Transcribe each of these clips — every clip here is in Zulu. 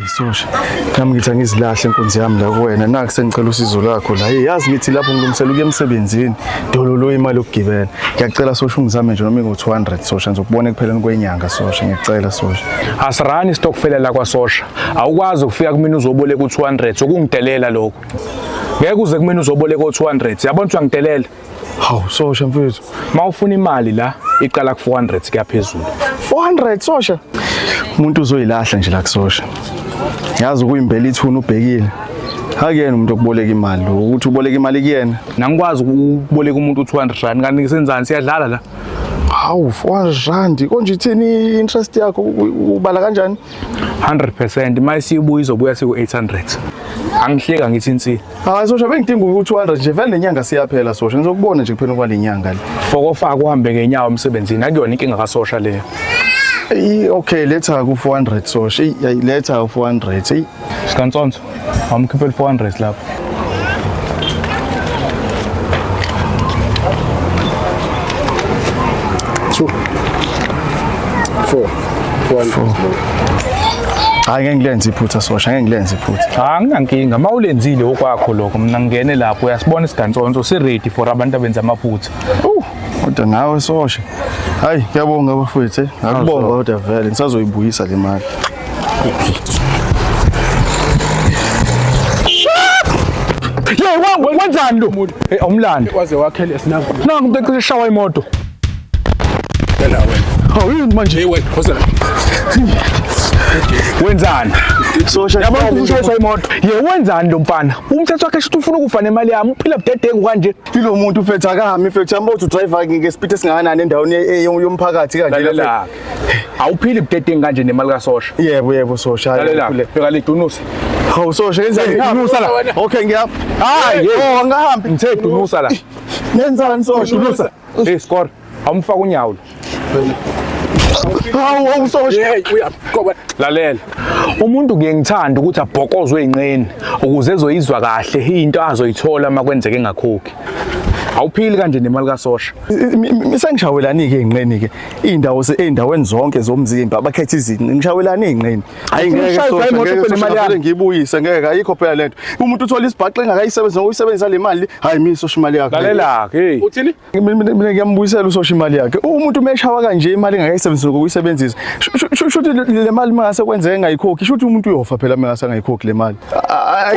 Isosha. Nami ngithi angizilahle inkunzi yami la kuwena. Naku sengicela usizo lakho la. Hey, yazi ngithi lapho ngilungisela ukuya emsebenzini. Dololo imali yokugibela. Ngiyacela sosha ungizame nje noma ingo-200 sosha ngizokubona ekupheleni kwenyanga sosha. Ngiyacela sosha. Asirani stockfela la kwasosha. Awukwazi ukufika kumina uzoboleka u-200 sokungidelela lokho. Ngeke uze kumina uzoboleka o-200. Yabona ukuthi wangidelela. Hawu sosha mfethu, mawufuna imali la iqala ku 400 kuyaphezulu. 400 sosha. Umuntu uzoyilahla nje la kusosha. Yazi ukuyimbela ithuna ubhekile. Akuyena umuntu okuboleka imali lo, ukuthi uboleka imali kuyena. Nangikwazi ukuboleka umuntu 200 rand kanti senzani siyadlala la. Hawu 400 rand konje ithini interest yakho ubala kanjani? 100% uma isibuya izobuya siku 800. Angihleka ngithi insini. Hayi sosha bengidinga u200 nje vele nenyanga siyaphela sosha ngizokubona nje kuphela kwalenyanga le. Fokofa kuhambe ngenyawo emsebenzini akuyona inkinga kasosha leyo. Ey okay letha ku 400 sosha. Ey ay, letha u 400. Ey Sikantsonso, awumkhipheli 400 lapho. Two. Four. hayi ngeke ngilenze iphutha sosha ngeke ngilenze iphutha cha nginankinga uma ulenzile okwakho lokho mina ngingene lapho uyasibona isigantsonso si-ready for abantu abenza amaphutha uh kodwa nawe sosha hayi kuyabonga abafowethu eh. ngakubonga kodwa vele ngisazoyibuyisa le mali Hey, wenzani lo muntu? Hey, umlando. Waze wakhele sinangu. Nangu umuntu ecishe shawa imoto. Phela wena. Hawu yini manje? Hey wena, phosela. Wenzani? Sosha. Yabo ushayiswa imoto. Ye wenzani lo mfana? Umthetho wakhe shuthi ufuna ukufa nemali yami. Uphila budedengu kanje. Kilo muntu ufethu akahami fethu. Yambo uthi driver ngeke speed esingakanani endaweni e- yomphakathi kanje. Lalela. Awuphili budedengu kanje nemali ka sosha. Yebo yebo sosha. Lalela. Bheka le dunusa. Hawu sosha ngenzani? Dunusa la. Okay ngiyapha. Hayi, oh angahambi. Ngithe dunusa la. Nenzani sosha? Dunusa. Hey score. Awumfaka unyawo. Hawu awusosha. Hey uyagoba. Lalela. Umuntu kuye ngithanda ukuthi abhokozwe inqeni ukuze ezoyizwa kahle into azoyithola uma kwenzeke engakhokhi. Awuphili kanje nemali kasosha. Sengishawelani ke inqeni ke. Indawo seindaweni zonke zomzimba abakhetha izinqe. Ngishawelani inqeni. Hayi ngeke sosha ngeke sosha ngeke ngibuyise ngeke ayikho phela lento. Umuntu uthola isibhaxu engakayisebenzisa ngokusebenzisa le mali. Hayi mina sosha imali yakhe. Lalela ke hey. Uthini? Mina ngiyambuyisela usosha imali yakhe. Umuntu umeshawa kanje imali engakayisebenzisa ngokuyisebenzisa. Shuthi le mali mangase kwenzeke ngayikhokhi. Shuthi umuntu uyofa phela mangase ngayikhokhi le mali.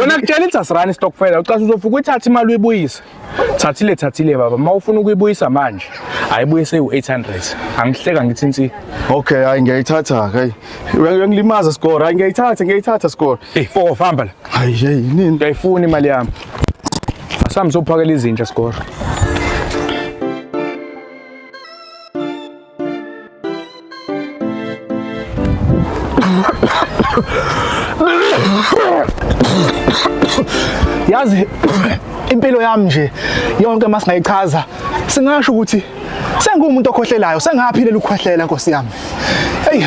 Wena kutshela ithi asirani stockfela. Ucasha uzofuka uyithathe imali uyibuyise. thathile thathile baba uma ufuna ukuyibuyisa manje ayibuye sewu-800 angihleka ngithi nsi okay hayi ngiyayithatha hayi uyangilimaza score hayi ngiyayithatha ngiyayithatha score eyi foko famba la hayi hey nini ngiyayifuna imali yami asambe sophakela izinja score yazi impilo yami nje yonke uma singayichaza singasho ukuthi sengumuntu okhohlelayo sengaphilela ukukhwehlela nkosi yami eyi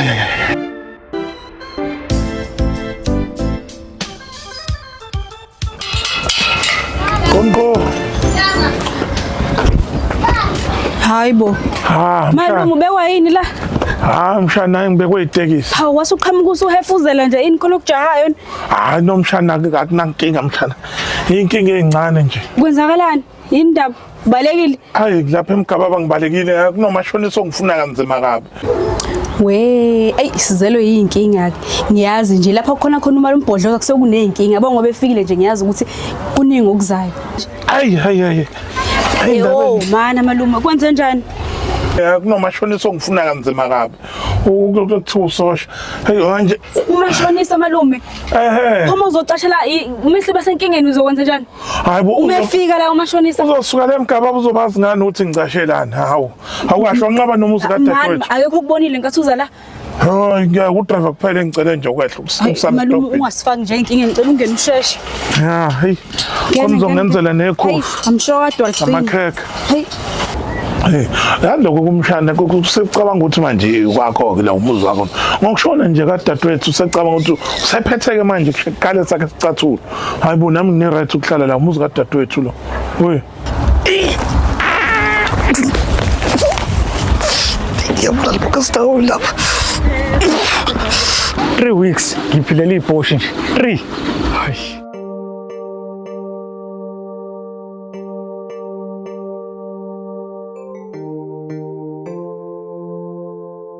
Konko. Hayi bo. Ha. Malume ubekwa yini la? Ha mshana hayi ngibekwe itekisi. Hawu wase uqhamuka usuhefuzela nje ini khona okujahayo. Hayi nomshana akunankinga mshana. Inkinga encane nje. Kwenzakalani? yini ndaba ubalekile hayi lapha emgababa ngibalekile kunomashonisa ongifuna kanzima kabi we eyi sizelwe yiyinkinga-ke ngiyazi nje lapha kukhona khona umali umbhodloza kusekuney'nkinga yabo ngoba efikile nje ngiyazi ukuthi kuningi okuzayo hayi hayi hayi Hayi, ndaba ewo enje. mana malume kwenze njani Eh, kunomashonisa ongifuna kanzima kabi U- ku- kuthiwa usosha heyi manje umashonisa malume ehe uma uzocashela i- uma siba senkingeni uzokwenza njani Hayibo umefika la umashonisa. Uzosuka le mgaba uzobazi ngani uthi ngicashelani. Hawu. Awukasho nqaba nomuzi ka dadewethu. Ayekho ukubonile ngathi uza la. Hayi ngeke udriver kuphela engicele nje ukwehla ukusala. Malume ungasifaki nje inkinga ngicela ungene usheshe. Ya, hey. Komzongenzela nekhofu. I'm sure adwa iqini. Amakhekhe. Hey. Hey, yaloko kumshana kusecabanga ukuthi manje kwakho ke la umuzi wakho. Ngokushona nje kadadewethu usecabanga ukuthi usephetheke manje kuqale sakhe sicathula. hayi bo nami ngine-right ukuhlala la umuzi kadadewethu lo oye ngiyabulala bokasitawu lapha three weeks ngiphilela iy'poshi nje three hayi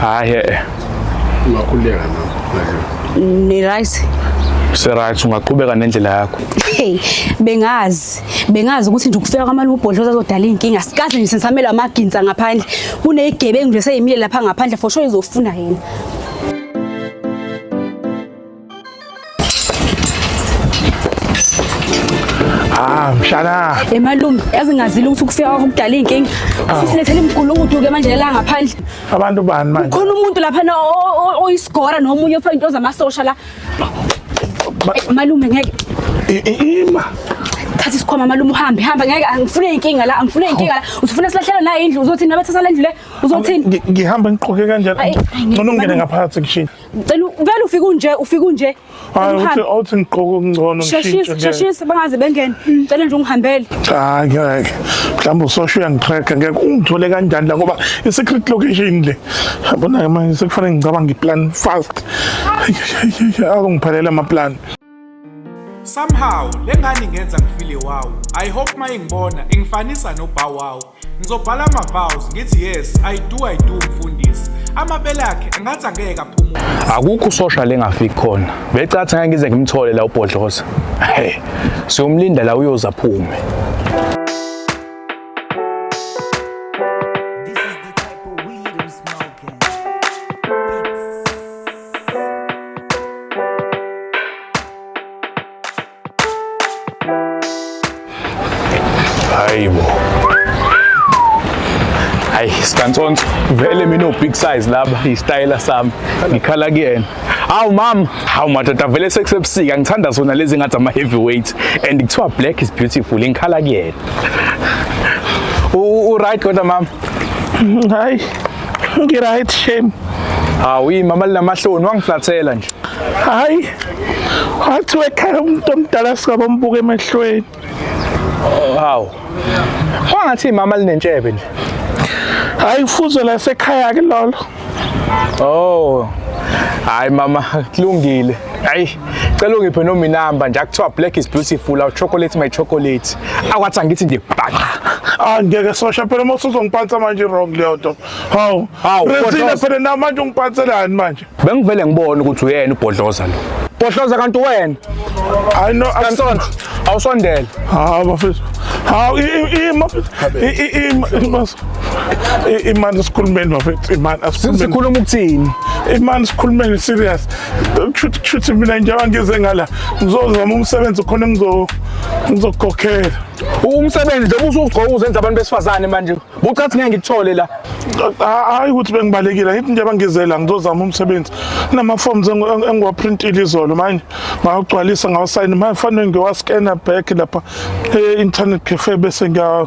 hayi eh ungakhuleka nokho ni right Serathi ungaqhubeka nendlela yakho. Hey, bengazi, bengazi ukuthi nje ukufika kwamali ubhodloza azodala inkinga. Sikaze nje sensamela amaginsa ngaphandle. Kunezigebengu nje seyimile lapha ngaphandle for sure izofuna yena. Ah, mshana. Emalume, yazi ngazile ukuthi ukufika kwakho kudala izinkinga. Sisilethele imgulukudu ke manje la ngaphandle. Abantu bani manje? Khona umuntu lapha na oyisigora nomunye ofaka into zamasosha la. Malume ngeke. Ima. Thatha isikhwama malume uhambe, hamba ngeke angifune inkinga la, angifune inkinga la. Usifuna silahlele na indlu uzothi nabathatha lendlu le uzothini? Ngihamba ngiqoke kanjani? Ngcono ngene ngaphakathi kishini. Ngicela vele ufike unje ufike unje. Hayi uthi awuthi ngigqoka okungcono ngishintshe. Sheshisa sheshisa bangaze bengene. Ngicela nje ungihambele. Cha ngeke. Mhlawumbe usosho uyangitracker ngeke ungithole kanjani la ngoba i secret location le. Yabona manje sekufanele ngicabanga i plan fast. Akungiphelele ama plan. Somehow lengane ingenza ngifile wow. I hope mayingibona ingifanisa no Bow Wow. Ngizobhala ama vows ngithi yes, I do I do mfundisi. Amabele akhe engathi angeke aphumule. Akukho usosha lengafiki khona. Becathi ngeke ngize ngimthole la ubhodloza. Hey, siyomlinda la uyoza phume. hayi bo hayi sikantsonso vele mina big size laba yisitayela sami ngikhala kuyena hawu mama hawu madoda vele sekusebusika ngithanda zona lezi ngathi ama-heavyweight and kuthiwa black is beautiful ngikhala kuyena uright kodwa mama hayi Ngiright shame. Hawu imama linamahloni wangiflathela nje. Hayi. Wathi wekhaya umuntu omdala sikabombuka emehlweni. Hawu. Wangathi imama linentshebe nje. Hayi kufuze la sekhaya ke lolo. Oh. Hayi mama kulungile. Hayi. cela ungiphe noma inamba nje akuthiwa black is beautiful awu chocolate my chocolate akwathi angithi nje bhaqa Ah ngeke sosha phela uma usuzongiphatha manje wrong leyo nto. Hawu. Hawu, Rethina Bhodloza. phela na manje ungiphathelani manje? bengivele ngibone ukuthi uyena ubhodloza lo bhodloza kanti wena I know I'm kansonto awusondele Hawu bafethu. Hawu i- i- i- mafethu. I- i- i- i- mas- i- imani sikhulumeni bafethu. Imani asikhulumeni. sikhuluma ukuthini Imani sikhulumeni serious. kushuthi mina njengoba ngize ngala ngizozama umsebenzi khona ngizokukhokhela umsebenzi njengoba usugcoka uzenza abantu besifazane manje bucathi ngeke ngikuthole la hayi ukuthi bengibalekile ngithi njengoba ngize la ngizozama umsebenzi kunama-forms engiwaprintile izolo manje ngawugcwalisa ngawusayina manje fanele ngiyowaskena back lapha e-internet cafe bese ngiya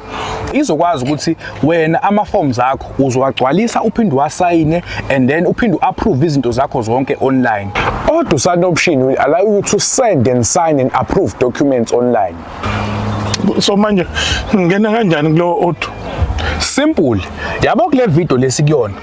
izokwazi ukuthi wena ama forms akho uzowagcwalisa uphinde wasayine and then uphinde uapprove izinto zakho zonke online kodwa usana option will allow you to send and sign and approve documents online so manje ngingena kanjani kulowo auto simple yabo kule video lesikuyona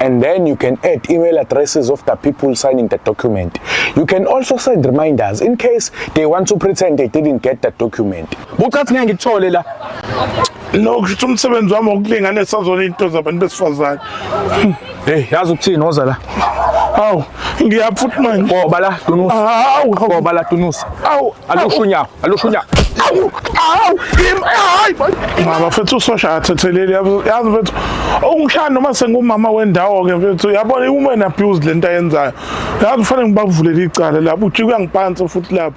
and then you can add email addresses of the people signing the document. You can also send reminders in case they want to pretend they didn't get the document. Bucathi ngeke ngikuthole la. No, kusho umsebenzi wami wokulinganisa zona into zabantu besifazane. Hey, yazi ukuthini oza la? Awu, ngiyaphutha manje. Ngoba la dunusa. Awu, ngoba la dunusa. Awu, alusho unyawo. alusho unyaka awu awu hayi mama mfethu usosha athetheleli yazi mfethu ungishaya noma sengumama wendawo ke mfethu yabona iwoman abused lento ayenzayo yazi ufanele ngibavulele icala lapho uthi kuyangiphansi futhi lapho